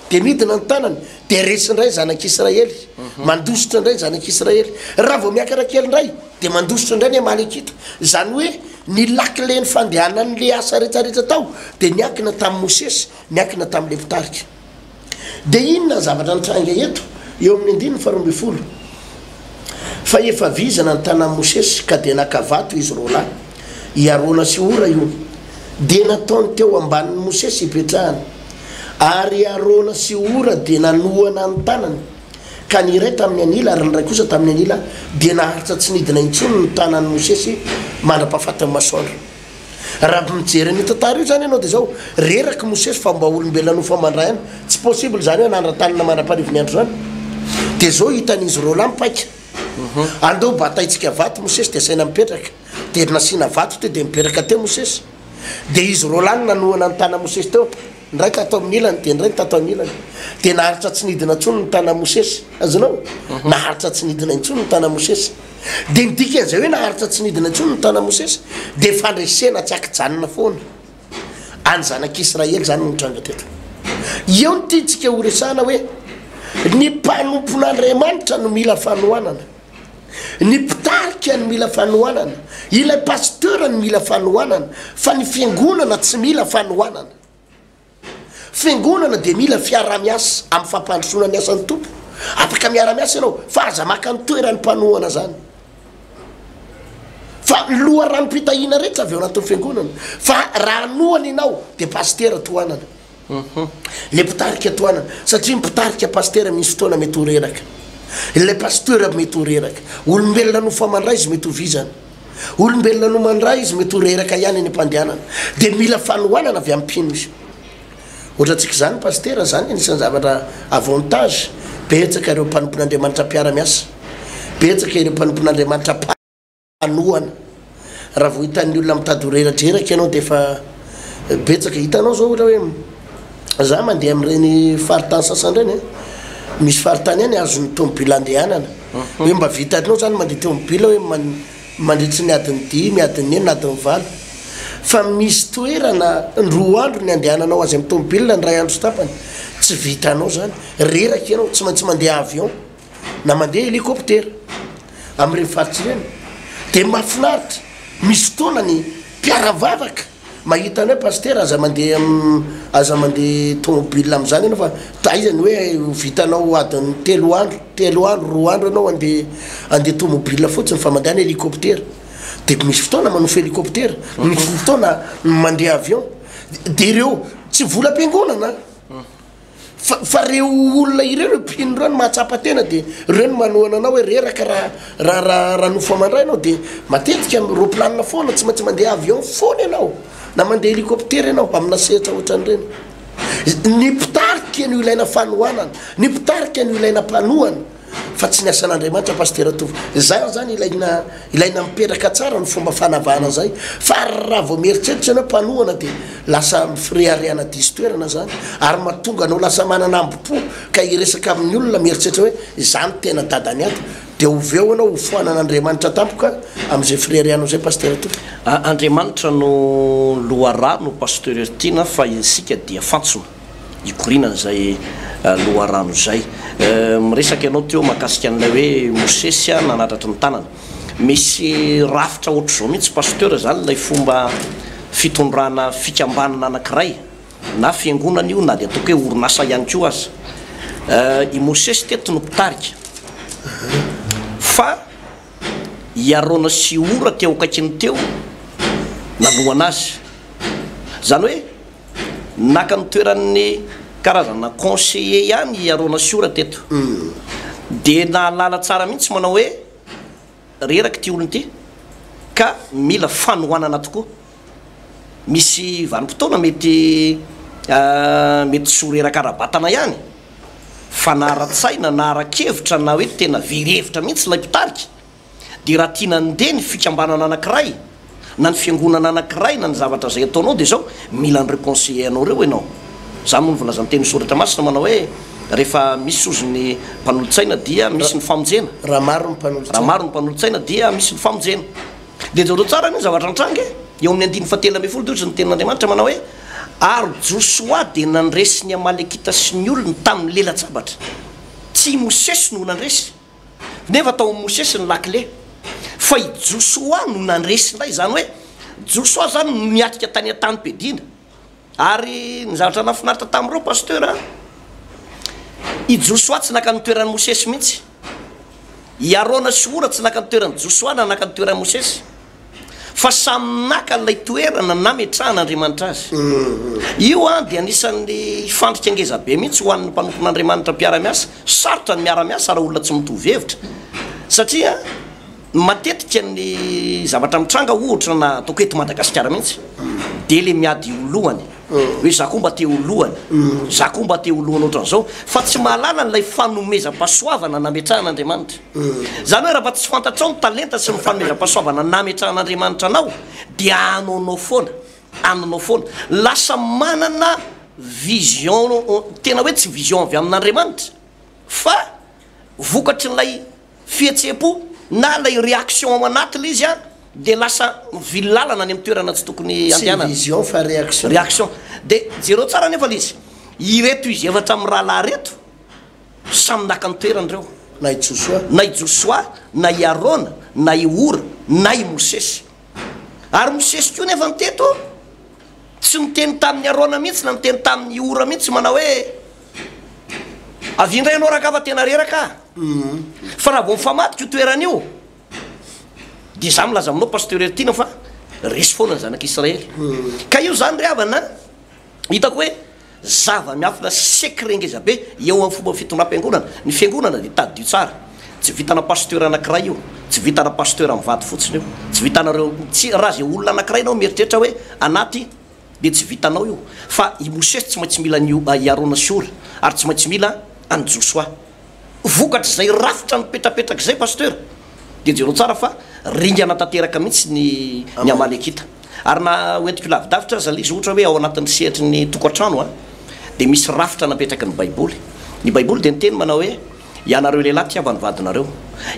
Dia midina ny tanany, dia resy indray ny zanak'i Israely, mandositra indray ny zanak'i Israely. Raha vao miakatra kely indray, dia mandositra indray ny Amalekita. Izany hoe ny lakilen'ny fandehanan'ilay asa rehetra rehetra tao dia niankina tamin'i Mosesy, niankina tamin'ilay mpitarika. Dia inona ny zavatra nitranga eto, eo amin'ny andininy faharoa ambin'ny folo? Fa efa vizana ny tanan'i Mosesy, ka dia naka vato izy roa lahy, i Arona sy Hora io, dia nataony teo ambanin'i Mosesy hipetrahany. Ary i Arona sy Hora dia nanohana ny tanany, ka ny iray tamin'ny anila ary ny iray kosa tamin'ny anila, dia naharitra tsy nidina intsony ny tanan'i Mosesy mandra-pahafatin'ny masoandro. Raha mijery an'io tantara io zany ianao dia izao, reraky Mosesy fa mba olombelona nofamandra ihany, tsy possible izany hoe hanandra-tanana mandra-parivo ny andro izany. Dia izao hitan'izy ireo lahy mipaika, andeo bataintsika vato Mosesy dia asaina mipetraka, dia nasiana vato teo dia nipetraka teo Mosesy, dia izy ireo lahy no nanohana ny tana Mosesy teo, Indray tato amin'ny ilany, dia indray ny tato amin'ny ilany. Dia naharitra tsy nidina intsony ny tanan'i Mosesy. Azonao? Mhm. Naharitra tsy nidina intsony ny tanan'i Mosesy. Dia ny dikan'izay hoe naharitra tsy nidina intsony ny tanan'i Mosesy, dia fandresena tsy ankijanona foana. Any zanak'Israely izany no nitranga teto. Eo ny tiantsika horesahana hoe ny mpanompon'Andriamanitra no mila fanohanana. Ny mpitarika no mila fanohanana, ilay pasteur no mila fanohanana fa ny fiangonana tsy mila fanohanana. Fiangonana dia mila fiarahamiasa amin'ny fampandrosoana ny asan'ny Tompo. Afaka miara-miasa ianao fa aza maka ny toeran'ny mpanohana zany. Fa ny loharanom-pitahiana rehetra avy ao anatin'ny fiangonana fa raha hanohana ianao dia pasitera tohanana. Ilay mpitarika tohanana, satria ny mpitarika pasitera misy fotoana mety ho reraka. Ilay pasteur mety ho reraka. Olombelona no fa mandray izy mety ho vizana. Olombelona no mandray izy mety ho reraka ihany any am-pandehanana. Dia mila fanohanana avy amin'ny mpino izy. Ohatra antsika izany pasitera, izany anisan'ny zavatra avantage. Betsaka ireo mpanompon'Andriamanitra mpiara-miasa. Betsaka ireo mpanompon'Andriamanitra. hanohana raha vao hitan'ny olona mitady ho reradreraka ianao dia efa betsaka hitanao zao ohatra hoe za mandeha amin'ireny faritany sasany ireny eh. misy faritany any azon'ny tomobila andehanana mhm. hoe mba vitanao zany mandeha tomobila hoe mandritry ny adin'ny dimy adin'ny enina adin'ny valo fa misy toerana roa andro ny andehananao azy amin'ny tomobila ny ray andro sy tapany tsy vitanao zany reraka ianao tsy maintsy mandeha avion na mandeha helikoptera amin'ireny faritra ireny dia mahafinaritra, misy fotoana ny mpiara-vavaka mahita anao hoe Pasitera aza mandeha aza mandeha tômôbila amin'izany ianao fa taiza ny hoe ho vitanao adin'ny telo andro, telo andro, roa andro ianao handeha handeha tômôbila fotsiny fa mandehana helikoptera dia misy fotoana manofy helikoptera, misy fotoana mandeha avion dia ireo tsy volam-piangonana. fa fa reo olona ireo reo mpino ireo no mahatsapa tena de reo no manohana anao hoe reraka raha raha raha raha nofo amandray ianao de matetika am roplanina foana tsy maintsy mandeha avion foana ianao na mandeha helicoptera ianao amina sehatra ohatran'ireny ny mpitarika no ilaina fanohanana ny mpitarika no ilaina mpanohana fa tsy ny asan'Andriamanitra Pasitera Tovo. Izany izany ilaina, ilaina mipetraka tsara ny fomba fanavahana izay, fa raha vao mieritreritra ianao mpanohana dia lasa fireharehana diso toerana izany, ary mahatonga anao lasa manana ambo-po ka hiresaka amin'ny olona mieritreritra hoe izaho no tena dadan'ny ato, dia oveo ianao hofoanan'Andriamanitra tampoka amin'izay fireharehanao izay Pasitera Tovo. Andriamanitra no loharano Pasteur Tiana fa isika dia fantsona. hikorianan'izay loharano izay. Miresaka ianao teo mahakasika an'ilay hoe Mosesy nanatratry ny tanana. Misy rafitra ohatr'izao mihitsy Pasteur izany ilay fomba fitondrana fikambanana anankiray, na fiangonana io na dia ataoko hoe orinasa ihany koa aza. I Mosesy teto no mpitarika fa i Arona sy i Hora teo akaikiny teo nanohana azy. Izany hoe naka ny toeran'ny karazana conseiller ihany i Arona Siora teto. Dia nahalala tsara mihitsy manao hoe reraka ity olona ity ka mila fanohanana tokoa. Misy vanim-potoana mety mety tsy ho reraka ara-batana ihany fa na ara-tsaina na ara-kevitra na hoe tena very hevitra mihitsy ilay mpitarika. Dia raha tiana handeha ny fikambanana anankiray, na ny fiangonana anankiray, na ny zavatra izay ataonao, dia izao, mila an'ireo conseillers anao ireo ianao. Izany moa no voalazan'ny Tenin'ny Soratra Masina manao hoe, Rehefa misy sozy ny mpanolotsaina dia misy ny famonjena. Raha maro ny mpanolotsaina. Raha maro ny mpanolotsaina dia misy ny famonjena. Dia jereo tsara anie ny zavatra nitranga e! Eo amin'ny andininy fahatelo ambin'ny folo dia hoy ny Tenin'Andriamanitra manao hoe, Ary Josoa dia nandresy ny Amalekita sy ny olony tamin'ny lela-tsabatra. Tsy i Mosesy no nandresy. Nefa tao amin'i Mosesy ny lakile, fa i Josoa no nandresy indray. Izany hoe Josoa izany no niatrika tany an-tanim-piadiana. Ary ny zavatra nahafinaritra tamin'ireo Pasteur a, i Josoa tsy naka ny toeran'i Mosesy mihitsy. I Arona sy Hora tsy naka ny toeran'i Josoa na naka ny toeran'i Mosesy. fa samy naka ilay toerana nametrahan'Andriamanitra azy. Io dia anisan'ny fandrika ngeza be mihitsy ho an'ny mpanompon'Andriamanitra mpiara-miasa. Sarotra ny miara-miasa raha olona tsy mitovy hevitra, satria matetika ny zavatra mitranga, ohatra na ataoko eto Madagasikara mihitsy, dia ilay miady ho lohany. hoe za koa mba te ho lohany, za koa mba te ho lohany ohatran'izao, fa tsy mahalala an'ilay fanomezam-pahasoavana nametrahan'Andriamanitra. Izany hoe raha mba tsy fantatrao ny talenta sy ny fanomezam-pahasoavana nametrahan'Andriamanitra anao, dia anoanao foana, anonao foana. Lasa manana vision tena hoe tsy vision avy amin'Andriamanitra, fa vokatrin'ilay. fihetseham-po na ilay réaction ao anaty ilay izy dia lasa mivily lalana any amin'ny toerana tsy tokony handehanana. Tsy vision fa réaction. Réaction. Dia jereo tsara anefa ilay izy. Ireto izy efatra mirahalahy ireto samy naka ny toerany ireo. Na i Josoa. Na i Josoa, na i Arona, na i Hora, na i Mosesy. Ary Mosesy koa nefa teto tsy niteny tamin'i Arona mihitsy na niteny tamin'i Hora mihitsy manao hoe. Avia indray ianao rangahy fa tena reraka aho. Fa raha vao mifamadika io toerana io dia izaho milaza aminao Pasteur Heritiana fa resy foana ny zanak'i Israely. Ka io izany ry havana an, hitako hoe zava-miafina secret ngeza be eo amin'ny fomba fitondram-piangonana. Ny fiangonana dia tadidio tsara. Tsy vitana Pasteur anankiray io. Tsy vitana Pasteur mivady fotsiny io. Tsy vitanareo, tsy, raha izay olona anankiray ianao mieritreritra hoe anaty dia tsy vitanao io fa i Mosesy tsy maintsy mila an'io i Arona sy Hora ary tsy maintsy mila an'i Josoa. Vokatr'izay rafitra mipetrapetraka izay Pasteur dia jereo tsara fa ringana tanteraka mihitsy ny ny Amalekita. Ary na ho entiko lavidavitra aza le izy ohatra hoe ao anatin'ny sehatry ny tokantrano a dia misy rafitra napetraky ny baiboly. Ny baiboly dia niteny manao hoe ianareo lehilahy tiava ny vadinareo.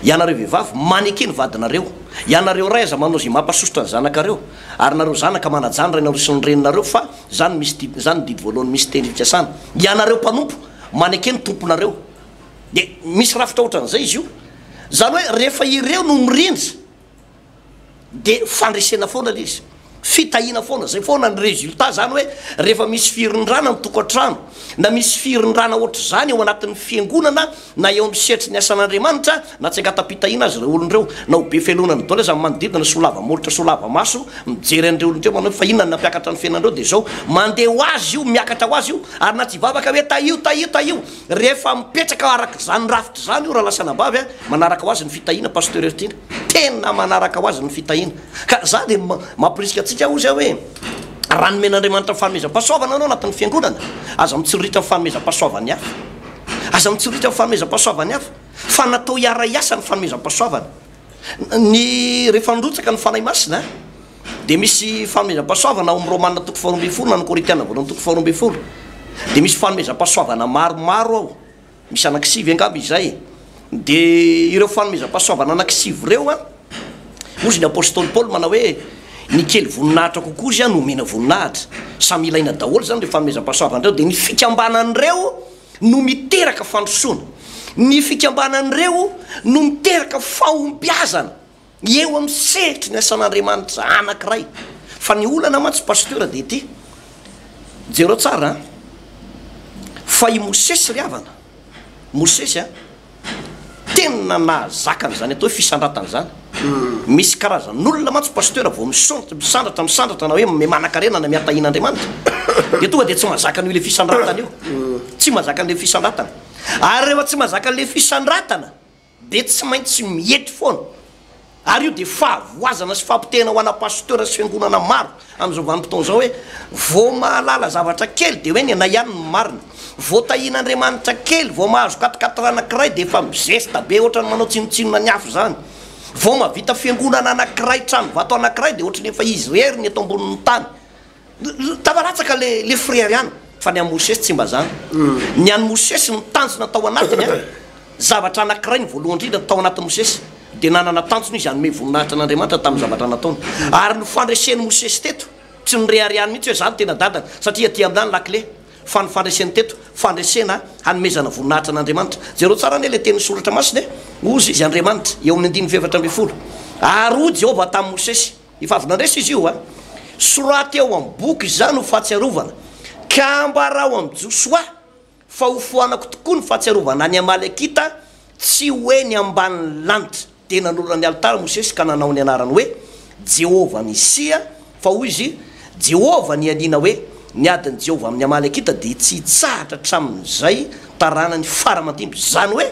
Ianareo vehivavy maneke ny vadinareo. Ianareo ray aza manao izay mampasosotra ny zanakareo. Ary nareo zanaka manajan rainareo sy ny reninareo fa zany misy didy zany ny didy voalohany misy teny fikasana ianareo mpanompo maneke ny tomponareo de misy rafitra otran'izay izy io zany hoe rehefa ireo no mirindra de fandresena foana le izy fitahina foana zay foana ny resultat zany hoe rehefa misy firindrana ny tokantrano na misy firindrana ohatr'izany eo anatin'ny fiangonana na eo amin'ny sehatry ny asan'Andriamanitra Natsengatam-pitahiana azy ireo olona ireo. Na ho be felona ny dôla aza ny manodidina, solava molotra, solava maso, mijery an'ireo olona ireo manao hoe fa inona no nampiakatra ny fiainanareo dia izao. Mandeha ho azy io, miakatra ho azy io. Ary na tsy hivavaka hoe tahio, tahio, tahio. Rehefa mipetraka araka izany rafitra izany io rahalahy sy anabavy a, manaraka ho azy ny fitahiana Pasteur Hertiana. Tena manaraka ho azy ny fitahiana. Ka za dia mamporisika antsika hozy aho hoe raha nomen'Andriamanitra ny fanomezam-pahasoavana ianao anatin'ny fiangonana, aza mitsiriritra ny fanomezam-pahasoavan'ny hafa. Aza mitsiriritra ny fanomezam-pahasoavan'ny hafa. Fa natao hiara-hiasa ny fanomezam-pahasoavana. Ny rehefa nirotsaka ny Fanahy Masina dia misy fanomezam-pahasoavana ao amin'ny Romana toko faharoa ambin'ny folo na ny Korintiana voalohany toko faharoa ambin'ny folo dia misy fanomezam-pahasoavana maromaro ao, misy anankisivy angamba izay. Dia ireo fanomezam-pahasoavana anankisivy ireo an, hoy izy ny Apostoly Paoly manao hoe ny kely voninahitra kokoa izay no omena voninahitra. Samy ilaina daholo izany ireo fanomezam-pahasoavana ireo. Dia ny fikambanan'ireo. no miteraka fandrosoana. Ny fikambanan'ireo no miteraka fahombiazana eo amin'ny sehatry ny asan'Andriamanitra anankiray. Fa ny olana mantsy Pasteur dia ity, jereo tsara an! fa i Mosesy ry havana, Mosesy an! Tena nahazaka an'izany atao hoe fisandratana izany. Misy karazan'olona mantsy Pasteur vao misaontra, misandratra, misandratra na hoe mimanakarena na mihatahina Andriamanitra dia tonga dia tsy mahazaka an'io ilay fisandratana io. Tsy mahazaka an'ilay fisandratana. Ary rehefa tsy mahazaka an'ilay fisandratana dia tsy maintsy miety foana. Ary io dia fahavoazana sy fampitehana ho ana pasteur sy fiangonana maro amin'izao vanim-potoana izao hoe vao mahalala zavatra kely dia hoe ny anay ihany no marina. Vao tahian'Andriamanitra kely, vao mahazo quatriquatre anankiray dia efa mizesta be ohatran'ny manao tsinontsinona ny hafa izany. Vao mahavita fiangonana anankiray, tranovato anankiray dia ohatran'ny efa izy irery ny eto ambonin'ny tany. Tava latsaka le le frere an! Fa ny an'i Mosesy tsy mba zany. Ny an'i Mosesy, ny tanjona tao anatiny an! Zavatra anankiray, ny voalohany indrindra tao anatin'i Mosesy, dia nanana tanjona izy hanome voninahitra an'Andriamanitra tamin'ny zavatra nataony. Ary ny fandresen'i Mosesy teto, tsy noreharehany mihitsy hoe za no tena dadany, satria aty aminà ny lakile. Fa ny fandreseny teto, fandresena hanomezana voninahitra an'Andriamanitra. Jereo tsara anie ilay tenin'ny Soratra Masina e! Hozy izy, Andriamanitra, eo amin'ny andininy fahefatra ambin'ny folo. Ary hoy Jehovah tamin'i Mosesy. Efa avy nandresy izy io a! Soraty ao amin'ny boky izany ho fahatsiarovana, ka ambarao amin'i Josoa fa hofoanako tokoa ny fahatsiarovana an'i Amalekita, tsy ho eny ambanin'ny lanitra. Dia nanorina ny alitara Mosesy ka nanao ny anarany hoe, Jehovah Nisia, fa hoy izy, Jehovah nianiana hoe, Ny adin'i Jehovah amin'ny Amalekita dia tsy hitsahatra hatramin'izay taranany fara aman-dimby, izany hoe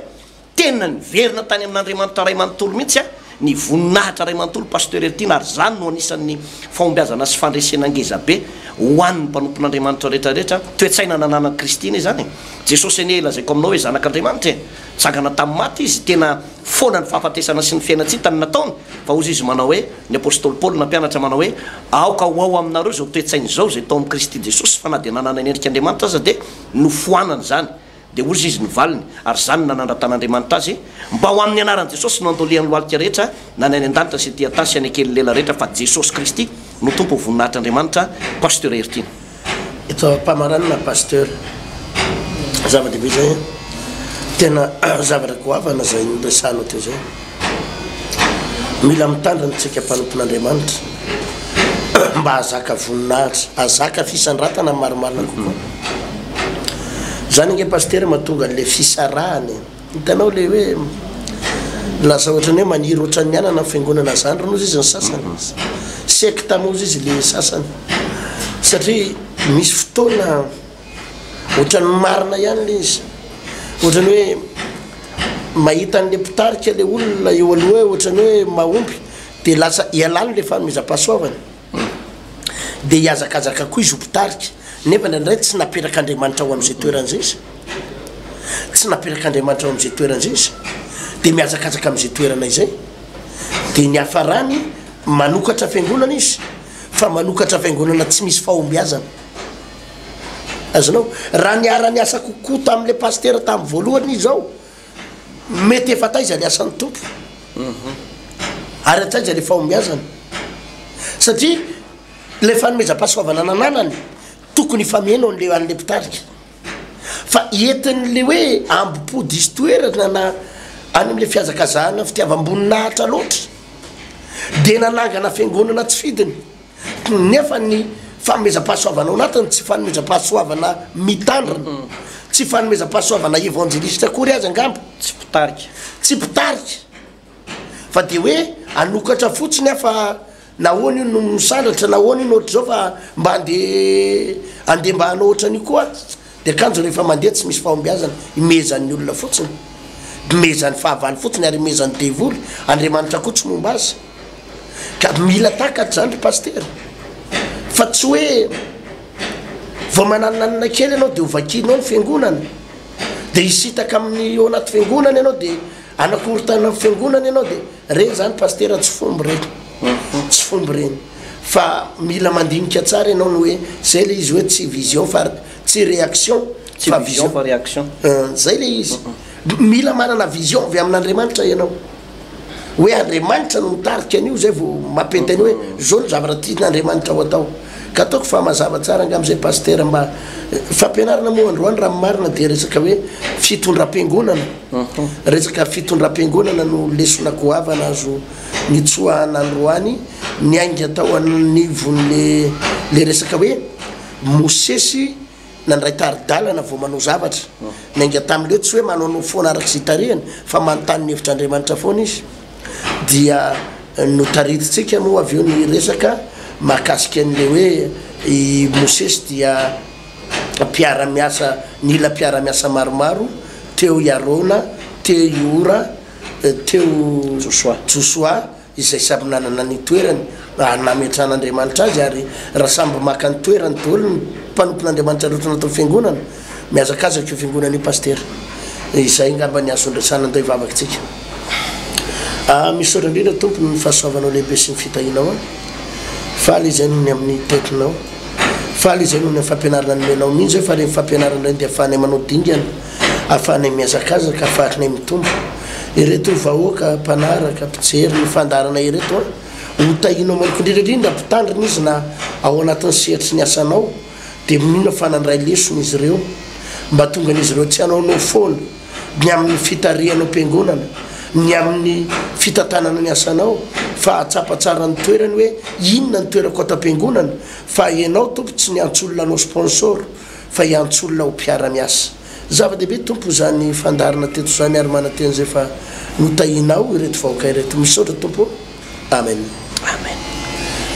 Tena niverina tany amin'Andriamanitra Ray manontolo mihitsy ny voninahitra Ray manontolo Pasteur Eltine ary izany no anisan'ny fahombiazana sy fandresena ngezabe ho an'ny mpanompon'Andriamanitra rehetra rehetra toe-tsaina nananan'i Kristy anie izany e! Jesosy anie lazaiko aminao hoe zanak'Andriamanitra e! Nitsangana tamin'ny maty Izy, tena foana ny fahafatesana sy ny fiainan-tsita no nataony fa hozy Izy manao hoe ny Apostoly Paoly nampianatra manao hoe aoka ho ao aminareo izao toe-tsaina izao izay tao amin'i Kristy Jesosy fa na dia nanana ny endrik'Andriamanitra aza dia nofoanany izany Dia hozy izy ny valiny, ary izany no nanandratan'Andriamanitra azy, Mba ho amin'ny anaran'i Jesosy no andolian'ny lohalika rehetra, na ny any an-danitra sy ety an-tany sy any an-kelin'ny lela rehetra, fa Jesosy Kristy no Tompo ho voninahitr'Andriamanitra, Pasteur Heritiana. Eto am-pamaranana Pasteur, zava-dehibe izay an! Tena zavatra goavana izay noresahanao teo izay. Mila mitandrina tsika mpanompon'Andriamanitra mba hahazaka voninahitra, hahazaka fisandratana marimarina kokoa. Zany ange Pasitera mahatonga an'le fisarahana e. Hitanao le hoe lasa ohatran'ny hoe maniry ohatran'ny anana ny fiangonana zandry moa izy ny sasany. Sekta moa izy le sasany. Satria misy fotoana. Ohatran'ny marina ihany le izy. Ohatran'ny hoe mahita an'le mpitarika le olona eo aloha hoe ohatran'ny hoe mahomby de lasa ialany le fanomezam-pahasoavana. De hihazakazaka koa izy ho mpitarika. Nefa ndraindray tsy naperak'Andriamanitra ho am'zay toerana zay izy. Tsy naperak'Andriamanitra ho am'zay toerana zay izy. De mihazakazaka am'zay toerana izay. De ny hiafarany, manokatra fiangonana izy, fa manokatra fiangonana tsy misy fahombiazana. Azonao? Raha niara-niasa kokoa tamin'ilay pasitera tamin'ny voalohany izy izao, mety efa taiza ny asan'ny Tompo, ary hatraiza ilay fahombiazany. Satria ilay fanomezam-pahasoavana nananany, tokony hifameno an'ilay an'ilay mpitarika. Fa entin'ilay hoe ambom-po diso toerana na any amin'ilay fihazakazahana fitiavam-boninahitra loatra, dia nanangana fiangonana tsy fidiny. Nefa ny fanomezam-pahasoavana ao anatiny tsy fanomezam-pahasoavana mitandrina. Tsy fanomezam-pahasoavana evanjelisitra akory aza angamba. Tsy mpitarika. Tsy mpitarika. Fa dia hoe hanokatra fotsiny aho fa nahoana io no misandratra, nahoana io no ohatr'izao fa mba andeha andeha mba hanao ohatran'io koa. Ny akanjo rehefa mandeha tsy misy fahombiazana, imehezan'ny olona fotsiny, imehezan'ny fahavalo fotsiny ary imehezan'ny devoly, Andriamanitra koa tsy momba azy. Ka mila takatra zany ry Pasitera, fa tsy hoe vao mananinanina kely ianao dia ho vakianao ny Fiangonana, dia hisitaka amin'ny ao anaty Fiangonana ianao dia hanakorontanana ny Fiangonana ianao dia, ireny zany Pasitera tsy fomba ireny, tsy fomba ireny. Fa mila mandinika tsara ianao ny hoe zay le izy hoe tsy vision fa tsy reaction fa vision fa reaction zay le izy mila manana vision avy amin'Andriamanitra ianao hoe Andriamanitra no mitarika an'io zay vao mampety an'io hoe zao ny zavatra tian'Andriamanitra ho atao ka ataoko fa mazava tsara angamba zay pasitera mba fampianarana moa androany raha marina dia resaka hoe fitondram-piangonana resaka fitondram-piangonana no lesona goavana azo nitsoahana androany niainga tao anivon'le le resaka hoe Mosesy nandray tari-dalana vao manao zavatra. Niainga tamin'le tsy hoe manaonao foana araka izay tarihany fa manontany ny hevitr'Andriamanitra foana izy. Dia notaritintsika moa avy eo ny resaka mahakasika an'le hoe i Mosesy dia mpiara-miasa nila mpiara-miasa maromaro, teo i Arona, teo i Hora, teo Josoa, izay samy nanana ny toerany nametran'Andriamanitra azy, ary raha samby maka ny toerany daholo ny mpanompon'Andriamanitra rehetra anatin'ny fiangonana, mihazakazaka io fiangonana io Pasitera. Izay ngamba ny azo andraisana an'ilay vavakintsika. Ah, misaotra indrindra Tompo ny fahasoavanao lehibe sy ny fitahianao ahy. Faly izay noho ny amin'ny tetinao. Faly izay noho ny fampianarana nomenao. Mino izay fa ireny fampianarana ireny dia ahafahanay manao dingana. Ahafahanay mihazakazaka, faritnay mitombo. Ireto vahoaka mpanaraka, mpijery ny fandaharana ireto an! Ho tahianao manokana indrindra indrindra mpitandrina izy na ao anatin'ny sehatry ny asanao dia minoana fa nandray lesona izy ireo mba tongan'izy ireo tsy hanaonao foana ny amin'ny fitarihanao am-piangonana, ny amin'ny fitantanana ny asanao fa hahatsapa tsara ny toerany hoe inona ny toerako ato am-piangonana fa ianao Tompo tsy niantsoolona anao sponsor. fa hiantso olona ho mpiara-miasa. Zava-dehibe Tompo izany fandaharana teto izany ary manantena izay fa notahianao ireto vahoaka ireto. Misaotra Tompo o. Amen. Amen.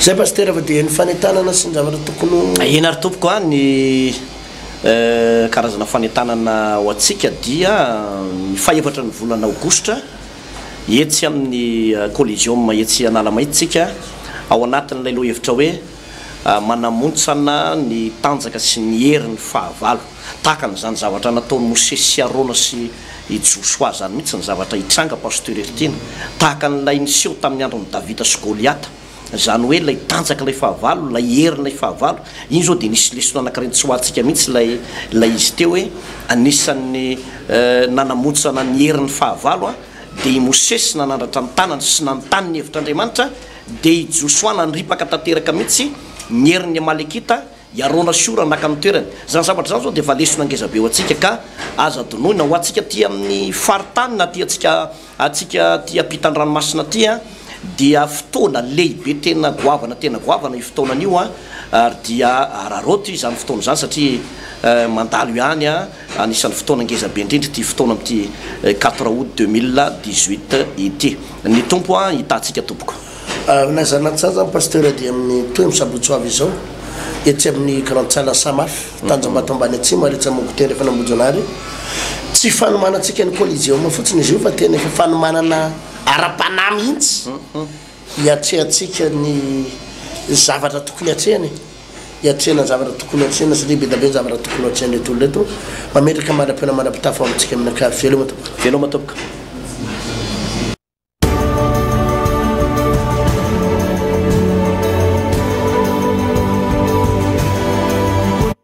Zay Pasitera fa dia ny fanentanana sy ny zavatra tokony ho. Tahiana ary Tompoko a. Ny karazana fanentanana ho antsika dia ny fahefatra ny volana aogositra etsy amin'ny Coliseum etsy Analamaitso tsika ao anatin'ilay lohahevitra hoe. manamontsana ny tanjaka sy ny heriny fahavalo. Tahaka an'izany zavatra nataon'i Mosesy sy Arona sy i Josoa izany mihitsy ny zavatra hitranga, Pasteur Heritiana. Tahaka an'ilay niseho tamin'ny andron'i Davida sy Goliata. Izany hoe ilay tanjaka ilay fahavalo, ilay hery ilay fahavalo. Iny izao dia nisy lesona anankiray nitsoahantsika mihitsy ilay ilay izy teo hoe anisan'ny nanamontsana ny heriny fahavalo dia i Mosesy nanandratra ny tanany sy nanontany ny hevitr'Andriamanitra, Dia i Josoa nandripaka tanteraka mihitsy ny herin'ny Amalekita, i Arona sy Hora naka ny toerany. Izany zavatra izany izao dia efa lesona ngeza be ho antsika, ka aza adinoina. Ho antsika aty amin'ny faritany na aty antsika, antsika aty ampitan-dranomasina aty, dia fotoana lehibe tena goavana, tena goavana io fotoanan'io, ary dia araraoty izany fotoana izany satria mandalo ihany. Anisan'ny fotoana ngeza be indrindra ity fotoana amin'ity quatre aout deux mille dix huit ity. Ny Tompo an hitahantsika tompoko. Aminay zanatsaza ny Pasteur dia amin'ny tohiny sabotsy ho avy izao etsy amin'ny grande salle Samaf, Tanjombato ambany atsimo ary etsy amin'ny Gouttière efa any Ambohijanahary. Tsy fanomanantsika ny Coliseum fotsiny izy io fa tena efa fanomanana ara-panahy mihitsy. Hiatrehantsika ny zavatra tokony hatrehina e! Hiatrehina ny zavatra tokony hatrehina satria be dia be ny zavatra tokony hatrehan'ireto olona ireto. Mametraka mandra-pihaona mandra-pitafo amintsika amin'ny ankavia. Veloma tompoko! Veloma tompoko!